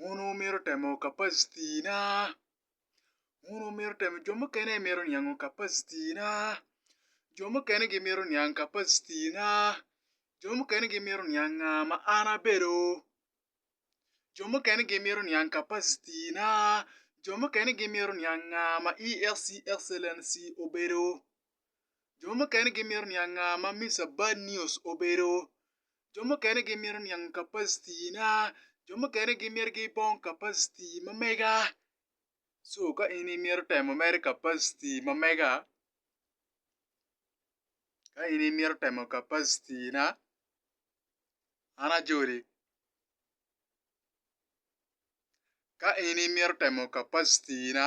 wun wumito temo kapacitina, wun wumito temo jo mukene mito niango kapacitina, jo mukene gimito niang kapacitina, jo mukene gimito niang nga ma an abedo, jo mukene gimito niang kapacitina, jo mukene gimito niang nga ma EXCE excellency obedo. Jo mukene gimito niang nga ma Misa Bad News obedo. Jo mukene gimito niang kapacityna. Jo mukene gimito gibong kapacity ma mega. Co ka in imito temo mere kapacity ma mega, ka in imito temo kapacityna, an ajoli. Ka in imito temo kapacityna.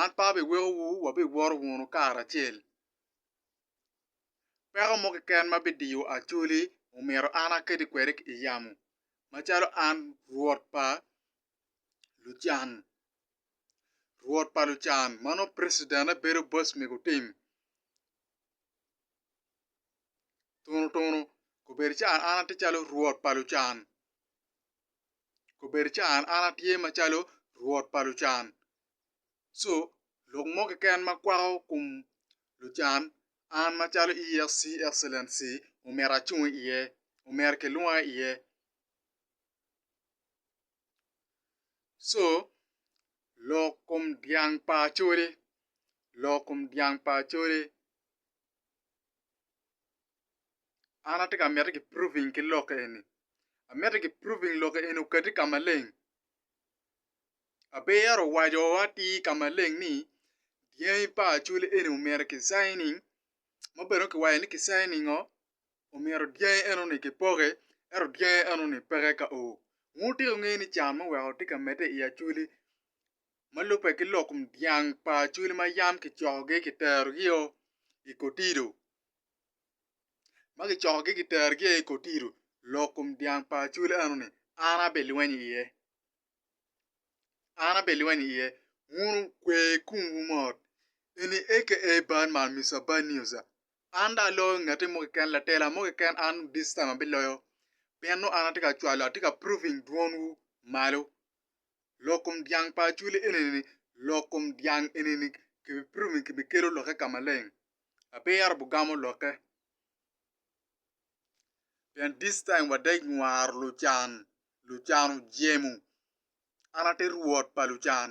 An pe abiwekowu, wabiwoto wunu karacel. Peko mo keken ma bidiyo Acholi omyero an aketi kwede i yamo, macalo an Rwot pa lucan, Rwot pa lucan ma nongo pricitenne bedo boc me gutim. Tunutunu, kobedo calo an atye calo Rwot pa lucan. Obedo ca an atye macalo rwot pa lucan. Co lok mo keken ma kwako kom lucan, an macalo EAC, Excellency, omyero acung iye, omyero kilwonga iye. Co lok kom dyang pa Acholi, lok kom dyang pa Acholi. An atye ka miti ki proving ki lok eni, amiti ki proving lok eni okati ka maleng. Aber owaco atir ka maleng ni dyangi pa acholi eni omyero ki signing ma bene dong kiwaco ni ki signing oo omyero dyangi eno ni kipoki ento dyangi eno ni peke ka oo. Ngu tika ingeyo ni can ma oweko atye ka mede i acholi ma lubbe ki lok kom dyang pa Acholi ma yam kicokogi kiterogi-o i Kotido ma kicokogi kiterogi i Kotido lok kom dyang pa Acholi eno-ni an abilweny iye an abilweny iye wun okwe kumwu mot eni aka bad man Mister Bad News an dong aloyo ngati mo keken latela mo keken an this time abiloyo pien nongo an atye ka cwalo atye ka proving dwonwu malo lok kom dyang pa acwali enini, lok kom dyang enini kibipito me kibikelo lokke ka maleng. Abiro bugamo lokke. Pien this time wade nywaro lucan, lucan ojemo. An ate Rwot pa lucan.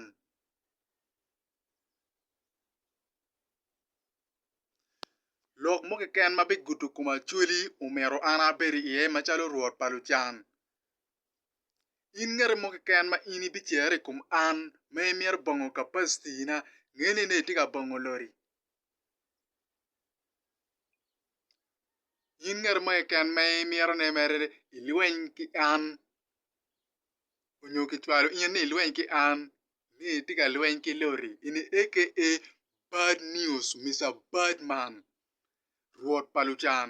Lok mo keken ma bigudo kom acwali omyero an abed iye macalo Rwot pa lucan. In ngati mo keken ma in ibicerre i kom an ma imito bongo kapacitina, nge ni nongo itye ka bongo lori. In ngati mo keken ma imito ni mere ilweny ki an nyo kicwalo in ni ilweny ki an ni itye ka lweny ki lori ini aka bad news Mister Badman, rwot pa lucan.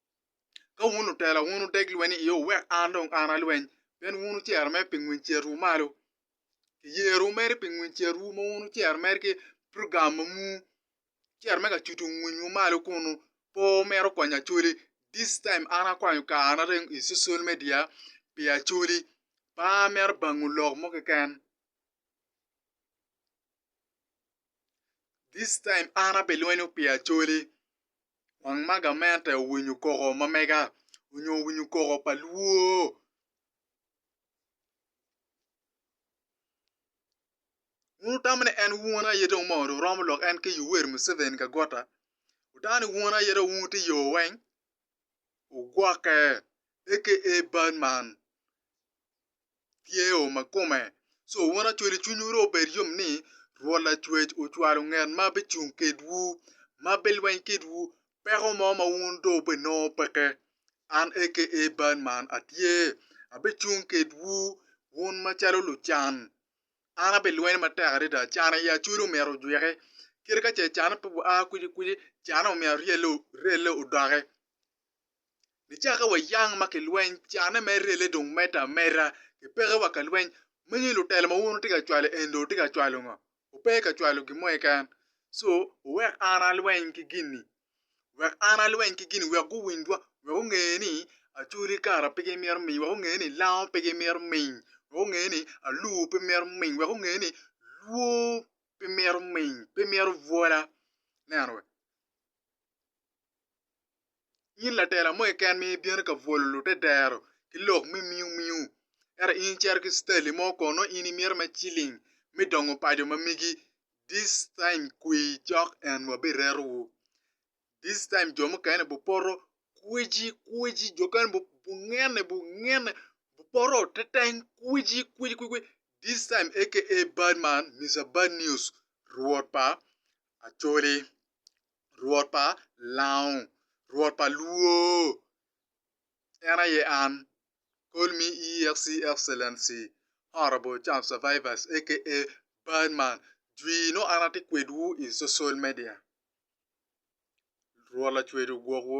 Ka wun lutela, wun wudeg lweny i iye, wuwek an dong an alweny, pien wun wucero mere pi ngwiny cerwu malo. Kiyerowu mere pi ngwiny cerwu ma wun wucero mere ki program ma muu, wucero mere ka cuto ngwinywu malo kunnu. Pe wumito kwanyo Acholi, this time an akwanyo karana dong i social media pi Acholi, pe amito bangu lok mo keken. This time an abilwenyo pi Acholi, wang ma gamente owinyo koko ma mega onyo owinyo koko pa luo. Wun wutamo ni en wun aye dong moo dong romo lok en ki Yoweri Museveni ka gota. Wutamo ni wun aye dong wun wuti yo weng, wugwokke aka bad man. tye o ma kome. So wun acwele cwinywu ro obed yom ni Rwot Lacwec ocwalo nget ma bicung kedwu, ma bilweny kedwu peko mo ma wun dong wubinongo peke. An aka bal man atye, abicung kedwu wun macalo lucan. An abilweny matek adada, can aye acwele omyero ojwiki, kadi ka ce can pe gua kwicikwici, canne omyero ryelle odoki. Nicakke wa yang ma kilweny, canne me rele dong medde ameda. Kipeke wa ka lweny. Menyo lutelo ma wun wutye ka cwalo eni dong wutye ka cwalo ngo? Wupe ka cwalo gin mo keken. So, wuwek an alweny ki gin-ni. Wek an alweny ki gin-ni wek guwinjwa, wek gunge ni acwali kara pe gimito miyi, wek gunge ni lango pe gimito miyi, wek gunge ni alur pe mito miyi, wek gunge ni lwor pe mito miyi, pe mito bwola. Ineno? In latela mo keken ma ibino ka bwolo lute dero ki lok me miumiu, ento in icito ki Stanley mo kono nongo in imito me ciling me dongo paco ma megi. This time kwi cok en wabirerowu. This time jo mukene bupoto kweci kweci jo mukene bungene bungene bupoto teteng kweci kweci kweci this time aka bad man Mister bad news rwot pa acholi. Rwot pa lango, Rwot pa luo, en aye an, Call me EXC Excellency Honourable Charles Survivors aka Badman jwi nongo an atye kwedwu i social media Rwot Lacwec ogwokwu.